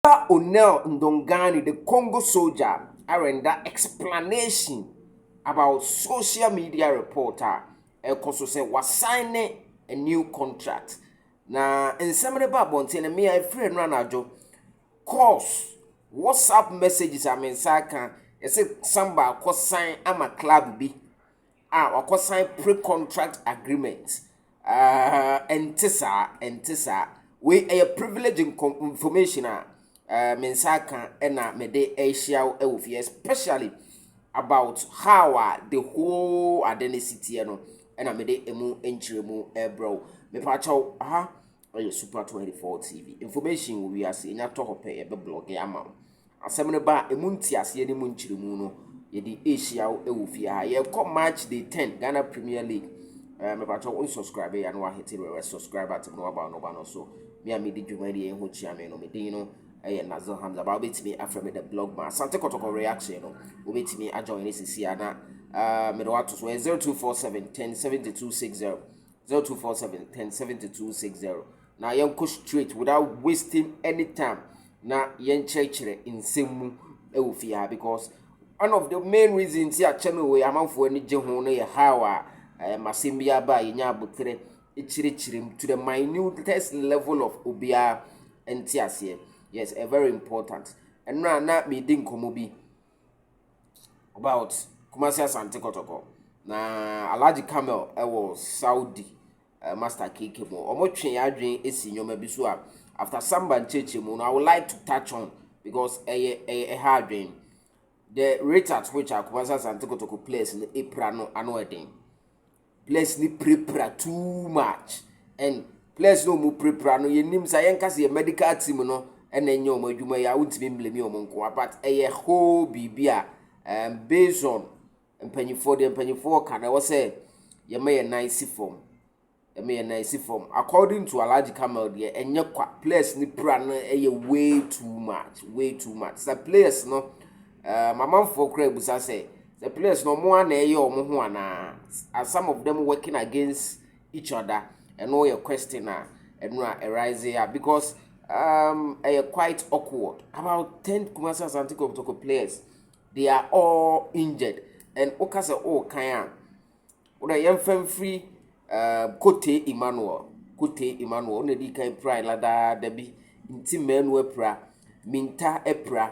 Ɔba Onel Ndongani the Congo soldier arenda explanation about social media report a ɛkɔ so sɛ wasan ne a new contract. Na nsɛm no ba abɔnten no, me a ɛfiri no anadwo, calls, WhatsApp messages a me nsa aka, ɛsɛ Samba akɔsan ama club bi. a wakɔ sign pre-contract agreement ɛnte saa ɛnte saa wei ɛyɛ privilege information a me nsa aka ɛna me de ɛhyia wo ɛwɔ fie especially about how a the whole ade ne sitiɛ no ɛna me de emu nkyerɛmu ɛbrɛ wo mepa kyɛw aha Ɛyɛ super twenty four TV information wɔ wiase enya tɔ hɔ pɛ yɛbɛ blɔge ama wo asɛm no ba a emu nteaseɛ ne mu nkyerɛmu no yɛde ehyia wo ɛwɔ fie ha yɛkɔ March day ten Ghana Premier League ɛɛ eh, mepatɔ wo nsubscribe ya no wahete rɛwɛ subscribe atem no waba no ba no so me a medi dwuma deɛ ɛho kyia me no medin no ɛyɛ Nazil Hamza ba wobɛtumi afrɛ me the blog ma asante kɔtɔkɔ reaction no wobɛtumi ajoin ne sisi a na uh, mede wato so ɛyɛ zero two four seven ten seventy two six zero zero two four seven ten seventy two six zero na yɛnkɔ straight without wasting any time na yɛnkyerɛkyerɛ nsɛm mu wɔ fie ha because one of the main reasons ti akyɛ no wɔ amanfoɔ ani gye ho no yɛ how a ɛɛ masɛm bi aba a yɛnya abotere kyerɛkyerɛ mu to the minutest level of obiara nte aseɛ yes ɛ very important ɛno a na medi nkɔmmɔ bi. about Kumasi Asante Kɔtɔkɔ. Na Alhaji Kamel wɔ Saudi uh, Master KK mu. Wɔtwe yɛn adwene si nneɛma bi so a after samba nkyerɛkyerɛmu no I would like to touch on because ɛyɛ ɛyɛ ɛha adwene. The rate at which Kumasi Asante Kɔtɔkɔ players no epira no ano ɛden. players ni pirapira too much and players no wɔn pirapira no yɛn nim sa yɛn kasa yɛ medical team no ɛna ɛnyɛ wɔn adwuma yɛ a wontumi mblemi wɔn nko a but ɛyɛ whole biribi a um, based on mpanyinfoɔ deɛ mpanyinfoɔ ka na ɛwɔ sɛ yɛma yɛn nan si fam yɛma yɛn nan si fam according to alhaji kamal deɛ ɛnyɛ kwa players ni pira no ɛyɛ way too much way too much sa players no. Um, amanfoɔ koraa busa sɛ, the players no ɔmo a na ɛyɛ ɔmo ho anaa? Are some of them working against each other? Ɛno yɛ question a ɛno a arise ya because um, ɛyɛ quite awkward. About ten Kumasi Asante Kotoko players, they are all injured and woka sɛ ɔɔkan a, wodɛ yɛmfa mfiri uh, Kote Emmanuel, Kote Emmanuel, ɔna di kan pira ladaada bi, nti mmaanu apira, minta apira,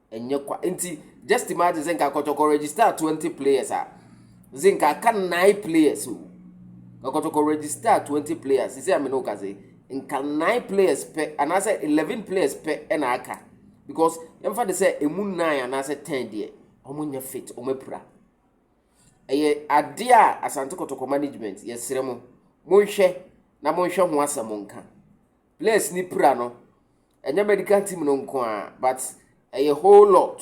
Ɛnyɛ kwa nti just imagine sɛ nka kɔtɔkɔ register twenty players a nse nka aka nine players o nka kɔtɔkɔ register twenty players sisi amene o kase nka nine players pɛ anaasɛ eleven players pɛ ɛna aka because yɛmfa de sɛ emu nine anaasɛ ten deɛ wɔn nyɛ fit wɔn apira ɛyɛ adeɛ a asante kɔtɔkɔ management yɛsrɛ mo monhwɛ na monhwɛ ho asɛm nka players ni pira no ɛnyɛ medical team no nko ara but ɛyɛ whole lot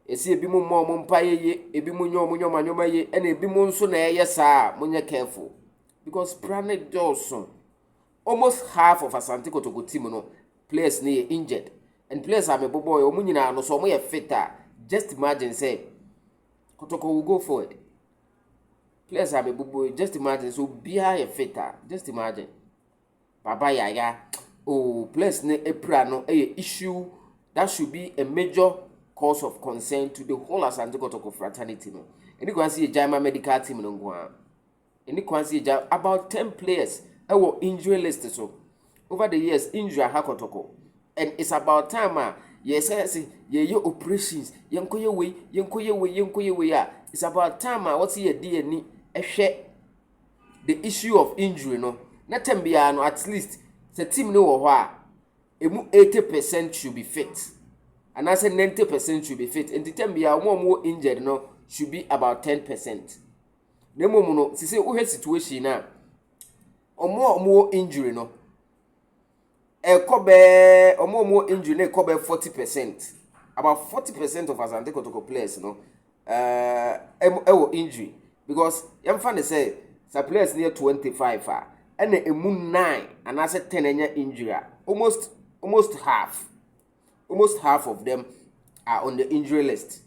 ɛsi ebi mu mmɔ wɔn mpa yɛye ebi mu nyɛ wɔn nneɛma nneɛma yie ɛna ebi mu nso na ɛyɛ saa a monyɛ careful because pra ne dɔɔso almost half of asante kotoko team no players no yɛ injured and players a mebobɔ yɛ wɔn nyinaa no so wɔn yɛ fit a just imagine sɛ kotoko will go forward players a mebobɔ just imagine sɛ obiara yɛ fit a just imagine. Baba yaya ooh bless ne apira no ɛyɛ issue that should be a major cause of concern to the whole Asante Kotoko fraternity no. Ɛni kwan sɛ yɛgyae ma medical team no nko ara. Ɛni kwan sɛ yɛgyae about ten players ɛwɔ injury list so over the years injury aha Kotoko and it's about time a yɛsɛ sɛ yɛyɛ operations yɛnkɔyɛ wei yɛnkɔyɛ wei yɛnkɔyɛ wei a it's about time a wɔsɛ yɛde yɛn ani ɛhwɛ the issue of injury no, na term biara no at least sɛ team no wɔ hɔ a, emu 80 percent should be fit anaasɛ 90 percent should be fit nti term biara wɔn a wɔwɔ injured no should be about 10 percent na mmom no sisi wohwɛ situation no a wɔn a wɔwɔ injury no Ɛkɔ bɛɛ wɔn a wɔwɔ injury no ɛkɔ bɛɛ forty percent about forty percent of Asante Kotoko players no ɛɛ ɛwɔ injury because yɛn fa ne sɛ sa players no yɛ twenty five a ɛna emu nine anaasɛ ten anya injury a almost almost half. almost half of them are on the injury list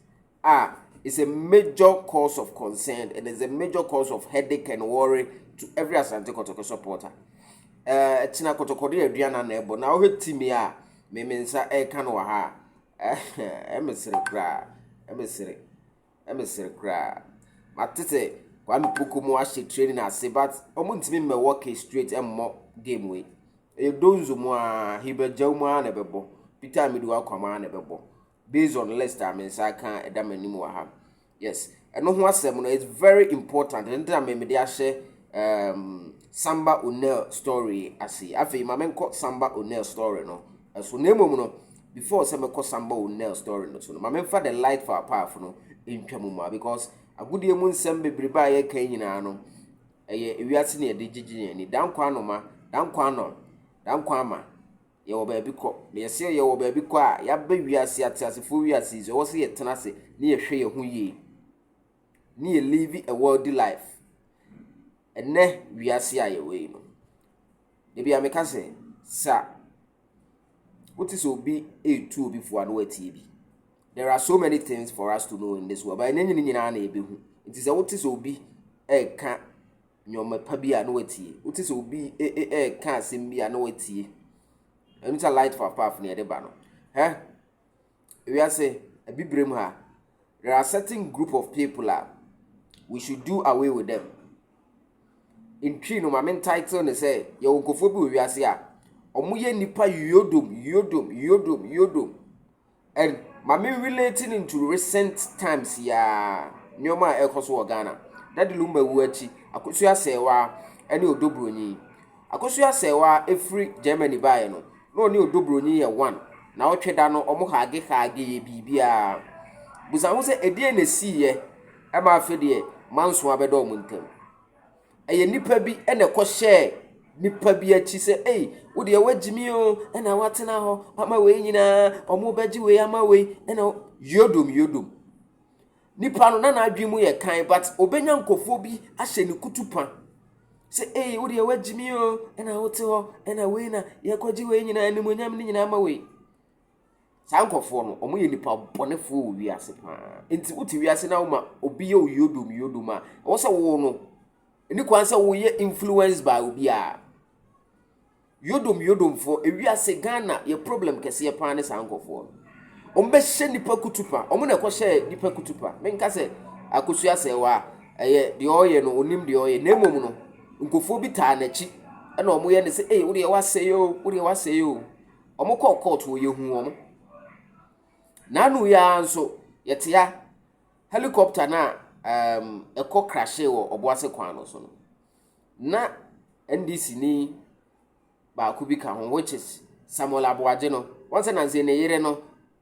ah it's a major cause of concern and it's a major cause of headache and worry to every asante kotoko supporter ɛɛ eh, ɛkyina kotoko de aduan na na ɛbɔ na ɔhwɛ timi a mɛmɛ nsa ɛka no wɔ ha ɛmɛ sere koraa ɛmɛ sere. Mesere koraa. Mate sɛ Kwame Poko mo ahyɛ training ase but ɔmo ntumi mmɛ wɔke straight mmɔ game wei. Ɛyɛ Donzo mu a, Hilbert Gyaw mu a na ɛbɛbɔ, Peter Amidu Akwam a na ɛbɛbɔ. Based on list a me nsa aka ɛda m'anim wɔ ha. Yes, ɛno ho asɛm no it's very important. Ɛno nti na me mede ahyɛ um, Samba O'Neal story ase. Afei ma menkɔ Samba O'Neal story no. So na mmom no, Before sɛ mɛkɔ samba wo Nell story no so no, ma menfa the light for our path no ntwa mu ma because agodie mu nsɛm bebrebe a yɛka yi nyinaa no, ɛyɛ ewiase ne yɛde gyegye yɛn ani. Dankwa anoma, dankwa anɔn, dankwa ama, yɛwɔ baabi kɔ. Na yɛsɛ yɛwɔ baabi kɔ a, yɛaba wiase, ateasefoɔ wiase yi so, ɛwɔ sɛ yɛtena ase ne yɛhwɛ yɛn ho yie, ne yɛ live a worldly life. Ɛnɛ wiase a yɛwɔ yi no, Da biara meka sɛ, sa wote sɛ obi retu obi fo a na watie bi. There are so many things for us to know in this world, but ɛnyɛ ne nyinaa na yɛbɛhu. Nti sɛ wote sɛ obi reka nneɛma pa bi a na watie. Wote sɛ obi reka asɛm bi a na watie. Ɛno sɛ light for path na yɛde ba no. Hɛ? Wiase abibire mu ha, there are certain group of people a we should do away with them. Ntwi no maame ntitle ne sɛ yɛwɔ nkurɔfoɔ bi wɔ wiase a wɔyɛ nipa yodom yodom yodom yodom and maame relate no to recent times yaa nneɛma a ɛrekɔ so wɔ Ghana. Dade Lumba wu akyi, Akosua Sɛɛwa ne Odo Broni. Akosua Asɛewa a ɛfiri Germany baeɛ no, na ɔne Odo Broni yɛ one, naawɔtwe da no wɔn hage hage yɛ biribiara. Busa ho sɛ ɛdeɛn na ɛsiiɛ ma afe deɛ manso abɛdɔ wɔn ntam. Ɛyɛ nnipa bi na ɛkɔhyɛɛ nnipa bi akyi sɛ ei wo deɛ woagyi me o ɛna woatena hɔ ama wei nyinaa wɔn bɛgye wei ama wei ɛna yodom yodom. Nipa no na n'adwene mu yɛ kan but obenya nkurɔfoɔ bi ahyɛ ne kutupa sɛ ee wo deɛ wagyi me o ɛna wote hɔ ɛna wei na yɛkɔgye wei nyinaa animonyam no nyinaa ma wei saa nkurɔfoɔ no wɔn yɛ nipa bɔnefoɔ wɔ wiase paa nti wote wiase na woma obi yɛ oyodom yodom a ɛwɔ sɛ wo no ɛni kwan sɛ woyɛ influence by obiara Yodom yodomfoɔ ewiase Ghana yɛ problem kɛseɛ paa ne saa nkɔfoɔ no wɔn bɛ hyɛ nipa kutupa wɔn na ɛkɔ hyɛ nipa kutupa menka sɛ akosua sɛ wa ɛyɛ deɛ ɔyɛ no onim deɛ ɔyɛ na emom no nkɔfoɔ bi taa n'akyi ɛna wɔn yɛ ne sɛ ee wodeɛ wasɛ yɛ o wodeɛ wasɛ yɛ o wɔn kɔɔ court wɔ yɛ hu wɔn n'anu yɛ ara nso yɛtea helicopter na ɛkɔ um, crashe wɔ ɔboase kwan no so no na NDCni baako bi ka ho which is Samuel Aboagye no, wɔn sɛ nanse ne yere no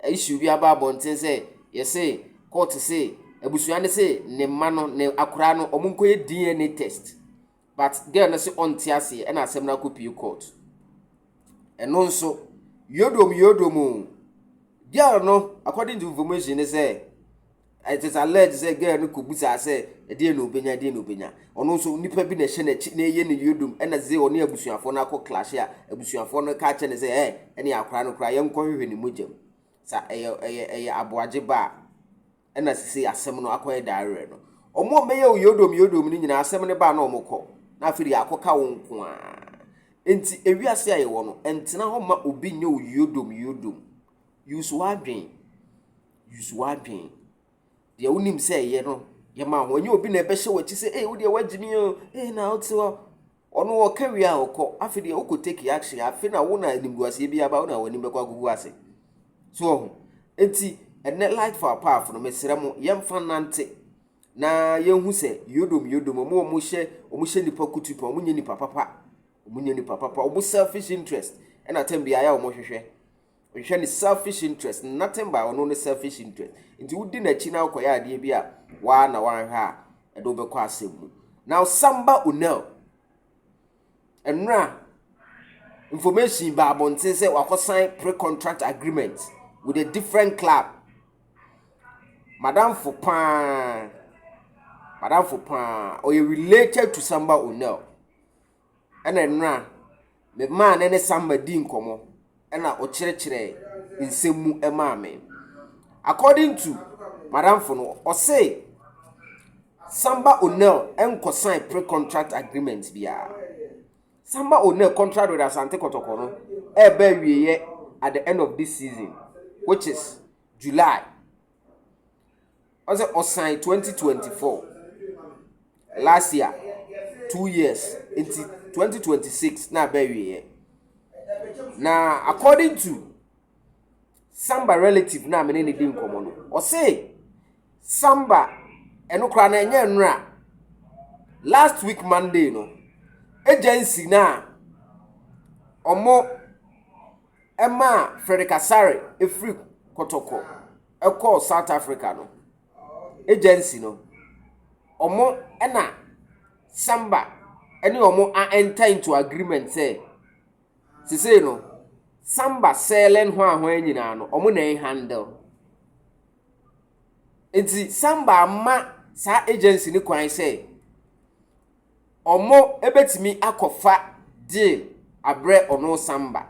issue bi aba abɔnten sɛ yɛse court se abusua no se ne mma no ne akora no wɔn nkɔyɛ DNA test but girl no se ɔnte aseɛ ɛna asɛm no akɔpie court. Ɛno nso yodom yodom o girl no according to information ne sɛ it is alleged sɛ girl no kɔbusaa sɛ ɛdeɛ na ɔbɛnya ɛdeɛ na ɔbɛnya ɔno nso nipa bi na ɛhyɛ n'akyi na ɛyɛ ne yodom ɛna dze ɔne abusuafoɔ no akɔ klashe a abusuafoɔ no ka kyɛ ne sɛ ɛ ɛne akora no koraa yɛnkɔhwehwɛ ne mogya mu sa ɛyɛ ɛyɛ ɛyɛ aboagye ba a ɛna sese asɛm no akɔyɛ daarerɛ no ɔmo a ɔmɛyɛ yodom yodom no nyinaa asɛm no baa na ɔmo kɔ na afei de akɔka wo nko a nti ewiase a yɛwɔ no ɛntena hɔ ma obi nyɛ wo yodom yodom Use w'adwen. Use w'adwen. Deɛ wonim sɛ ɛyɛ no, yɛ ma ho. Ɛnyɛ obi na ɛbɛhyɛ w'akyi sɛ, ee, wodeɛ woagye me o, ee, na wote hɔ. Ɔno ɔka wie a ɔkɔ. Afei deɛ wokɔ take action. Afei na wo na animguaseɛ bi aba, wo na w'anim bɛkɔ agugu ase. So ɔho. Enti, ɛnɛ light for apaafo no, mesrɛ mo, yɛmfa nante na yɛnhu sɛ yodom yodom ɔmo ɔmo hyɛ ɔmo hyɛ nipa kutu pa ɔmo nyɛ nipa papa ɔmo nyɛ nipa papa ɔmo selfish interest ɛna tɛm bi ayɛ ɔmo hwehwɛ Ɔhwɛ ne selfish interest, nothing by ɔno ne selfish interest. Nti wodi n'akyi na wokɔyɛ adeɛ bi a waa na wanhwɛ a ɛde wobɛkɔ asɛm mu. Now Samba Onel, ɛnora information ba abɔnten sɛ wakɔsan pre-contract agreement with a different club. Madamfo paa, madamfo paa, ɔyɛ related to Samba Onel. ɛna nnora me maa ne ne Samba dii nkɔmmɔ ɛna ɔkyerɛkyerɛɛ nsɛm mu maa me. According to madamfo no, ɔse Samba O'Neal nkɔsan pre-contract agreement biara. Samba O'Neal contract with Asante Kɔtɔkɔ no ɛreba awieɛ at the end of this season which is July. ɔsɛ ɔsan twenty twenty four last year two years nti twenty twenty six na abɛ wieɛ na according to samba relative na mene ne di nkɔmɔ no ɔse samba ɛno kora na ɛnyɛ nnora last week monday no agency na ɔmo ɛma frederick asare efiri kɔtɔkɔ. ɛkɔɔ South Africa no agency no, wɔn na Samba ne wɔn a enter into agreement sɛ, sesei no, Samba selling hwan hwan nyinaa no, wɔn na ɛhandle. Nti Samba ama saa agency no kwan sɛ, ɔmo bɛtumi akɔfa deal abrɛ ɔno san ba.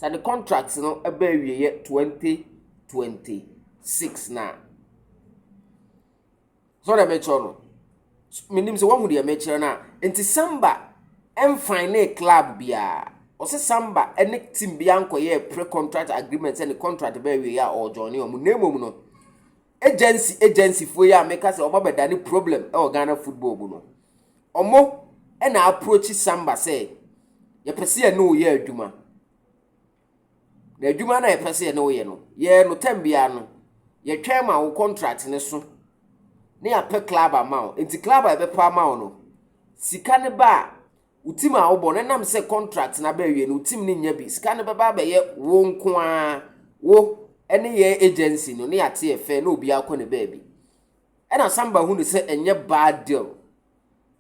Sɛ ne contract no ba awieɛ 2026 no a. So deɛ mekyerɛ no? Menim sɛ woahu deɛ mekyerɛ no a. Nti Samba ɛmfan ne club biara. Ɔse Samba ne team biara nkɔyɛɛ pre-contract agreement sɛ ne contract ba awieɛ a ɔɔjoine ɔmo. Na mmom no, agency agencyfoɔ yi a meka sɛ wɔabɛdane problem wɔ ghana football mu no ɔmo na approach samba sɛ yɛpɛ sɛ yɛne wo yɛ adwuma na adwuma no a yɛpɛ sɛ yɛne wo yɛ no yɛɛ no tam biara no yɛtwɛn ma wo contract no so ne yɛapɛ club ama wo nti club a yɛbɛpɛ ama wo no sika no ba a Wo tim a wobɔ no, ɛnam sɛ contract no aba awie no, wo tim no nya bi. Sika no bɛba abɛyɛ wo nko ara, wo ne yɛn agency no, ne yɛate yɛ fɛ, na obiara kɔ ne baabi. Ɛna Samba hu no sɛ ɛnyɛ bad deal.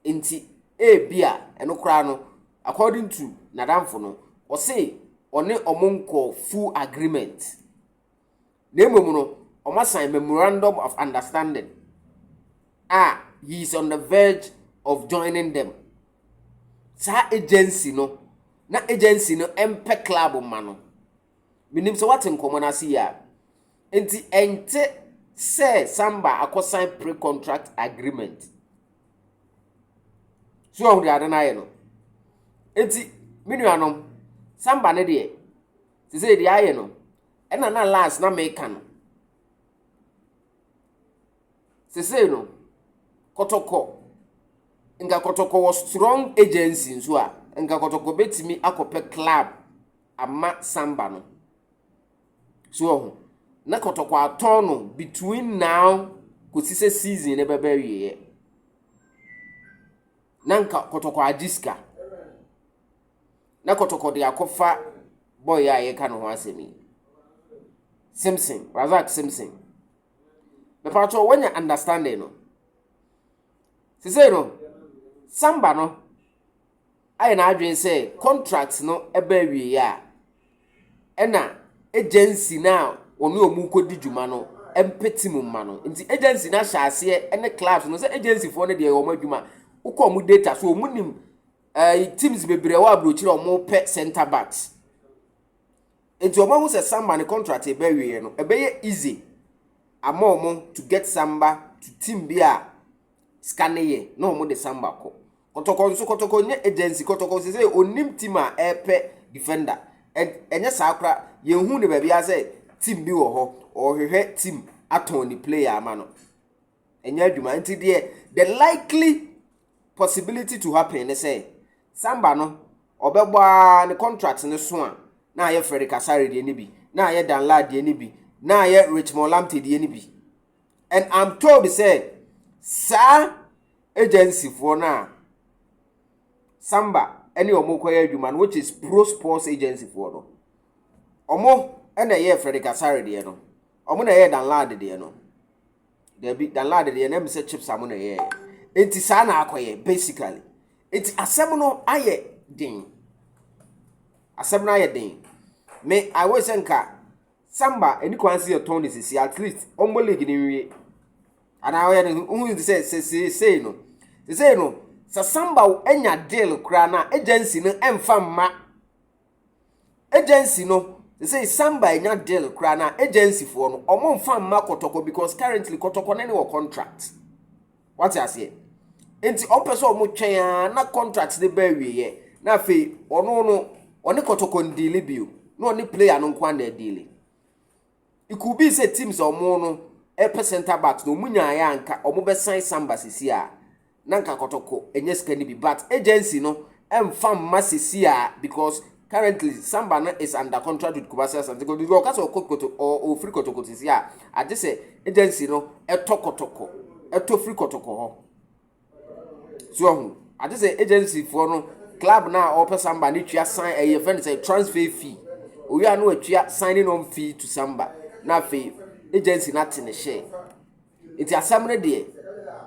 Nti, ebi a, ɛno koraa no, according to n'adamfo no, ɔse ɔne ɔmo nkɔ full agreement. na mmom no, wɔasan Memorandum of Understanding a he is on the verge of joining them. Saa agency no, na agency no mpɛ club mma no. Menim sɛ wate nkɔmmɔ no ase yi a. Nti ɛnte sɛ Samba akɔsan pre-contract agreement. So ɔhu deɛ ade no ayɛ no. Nti, me nuanom, Samba no deɛ, sɛ sɛ deɛ ayɛ no, Ɛna na last na meka no. Sesei no, kɔtɔkɔ, nka kɔtɔkɔ wɔ strong agency nso a, nka kɔtɔkɔ bɛtumi akɔpɛ club ama samba no. So wɔ ho, na kɔtɔkɔ atɔn no between now kɔsi sɛ season no bɛbɛ awieɛ. Na nka kɔtɔkɔ agye sika. Na kɔtɔkɔ de akɔfa bɔyɛ a yɛka ne ho asɛm yi simson razak simson mepa kyɛ wɔnya understanding no sesei no samba no ayɛ n'adwene sɛ contract no ɛbɛ awieɛ a ɛna agency no a wɔne ɔmu kɔdi dwuma no mpɛti mu mma no nti agency no ahyɛ aseɛ ne clubs no sɛ agencyfoɔ no deɛ wɔn adwuma wokɔ ɔmu data so ɔmu nim ɛɛ eh, teams bebree wɔ aburokyire a wɔpɛ center backs nti wɔn ahu sɛ samba ne contract ɛbɛwieɛ no ɛbɛyɛ easy ama wɔn to get samba to team bi a sika ne yɛ na wɔn de samba kɔ kɔtɔkɔ nso kɔtɔkɔ nyɛ agency kɔtɔkɔ sɛ sɛ onim team a ɛpɛ defender ɛnyɛ saa kora yɛn hu ne baabi a sɛ team bi wɔ hɔ ɔhwehwɛ team atɔn ne player ama no. ɛnyɛ adwuma nti deɛ the likely possibility to happen ne sɛ samba no ɔbɛbɔ a ne contract no so a na ayɛ Freddy Kasare deɛ no bi na ayɛ Danla deɛ no bi na ayɛ Richmond Lamptey deɛ no bi and I'm told sɛ saa agency foɔ no a samba ne wɔn kɔyɛ adwuma no which is pro sports agency foɔ no wɔn na ɛyɛ Freddy Kasare deɛ no wɔn na ɛyɛ Danlad deɛ no. dabi danlad deɛ na mi sɛ chips a mo na ɛyɛɛyɛ nti saa na akɔyɛ basically nti asɛm no ayɛ den asɛm no ayɛ den me i wish sɛ nka samba ɛni kwan si yɛtɔn ne sisi at least ɔmbɔ league ne nwie anaa ɔyɛ ne ho nti sɛ sɛ sesei no sesei no sɛ samba anya deal koraa na agency no ɛmfa mma agency no sɛ samba enya deal koraa na agency foɔ no ɔmo nfa mma kɔtɔkɔ because currently kɔtɔkɔ no ne wɔ contract wate aseɛ nti ɔmo pɛ sɛ ɔmo twɛn a na contract ne bɛ awieɛ na afei ɔno no ɔne kɔtɔkɔ ndeele bio na ɔne player no nko ana adeele It could be sɛ teams a wɔn no ɛpɛ center backs na wɔn nyaayɛ a nka wɔn bɛsan Samba sisi a na nka kɔtɔkɔ ɛnyɛ sika no bi but agency no ɛnfa mma sisi a because currently Samba no is under contract with Kumasi Asante Kotoko nti ɔka sɛ ɔkɔ kɔtɔ ɔ ɔfiri kɔtɔkɔ sisi a agye sɛ agency no ɛtɔ kɔtɔkɔ ɛtɔ firi kɔtɔkɔ hɔ so ɔho agye sɛ agencyfoɔ no club no a ɔpɛ samba no tua san ɛyɛ fɛn sɛ transfer fee owie a na watua signing on fee to samba na afei agency no ate ne hyɛ nti asɛm no deɛ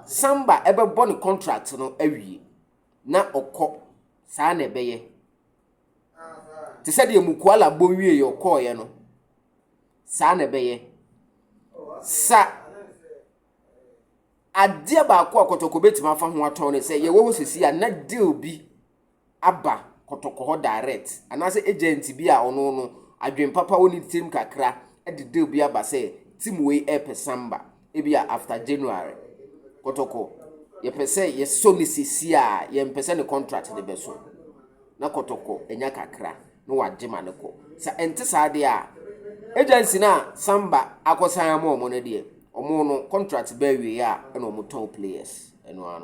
samba ɛbɛbɔ ne contract no awie na ɔkɔ saa na ɛbɛyɛ te sɛ deɛ mukuala bɔ wie yɛ ɔkɔɔyɛ no saa na ɛbɛyɛ sa Adeɛ baako a kɔtɔkɔ bɛtumi afa ho atɔn ne sɛ yɛwɔ hɔ sɛsi a na deal bi aba kɔtɔkɔ hɔ direct anaasɛ agent bi a ɔno no adwen papa wɔ ne tirim kakra de deal bi aba sɛ team wei ɛpɛ samba ebi a after January kɔtɔkɔ yɛpɛ sɛ yɛsɔ ne sɛsi a yɛmpɛ sɛ ne contract ne bɛso. na kɔtɔkɔ nya kakra na wɔagye ma no kɔ. Sɛ ɛnte saa deɛ a, agency no a Samba akɔsan ama wɔn no deɛ, wɔn no contract bɛ awieɛ a na wɔtɔn players. Ɛno ara no.